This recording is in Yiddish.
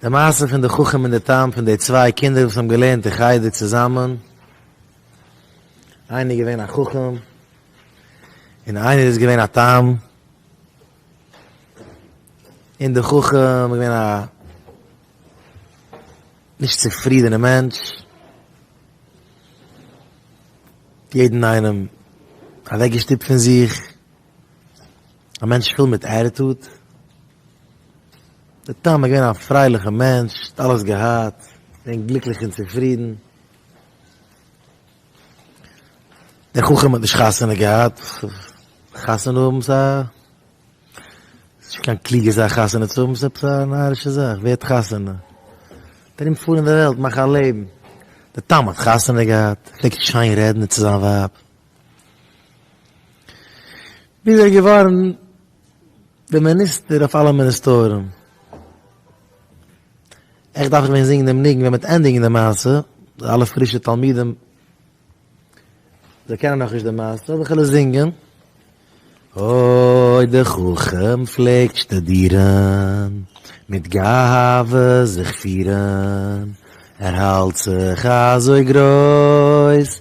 די מעשה פון די חכם און די תם פון די צוויי קינדער וואס האבן געלערנט אין חדר צוזאמען, איינער איז געווען א חכם און איינער איז געווען א תם, און די חכם איז געווען א נישט צופרידענע מענטש, יעדן איינעם אוועקגעשטופט פון זיך. א מענטש פול מיט עטיטוד, דער תם איז געווען א פרייליכע מענטש, האט אלעס געהאט, געווען גליקליך און צופרידן, דער חכם האט נישט חתונה געהאט, חתונה האבן איז א, ס'איז נישט קיין קלוגע זאך חתונה צו האבן, ס'איז עפעס א נארישע זאך, ווער האט חתונה? דער ארום פארן אין דער וועלט, מאך א לעבן, דער תם האט חתונה געהאט, פלעגט שיין רעדן צו זיין ווייב, ווי איז ער געווארן דער מיניסטער אויף אלע מיניסטארן? עכט דארף איך ווען זינגען דעם ניגון ווען מ'וועט ענדיגן די מעשה, די אלע פרישע תלמידים, זיי קענען נאכנישט די מעשה, זאל איך עלעס זינגען? אוי דער חכם פלעגט שטודירן, מיט גאווה זיך פירן, ער האלט זיך אזוי גרויס,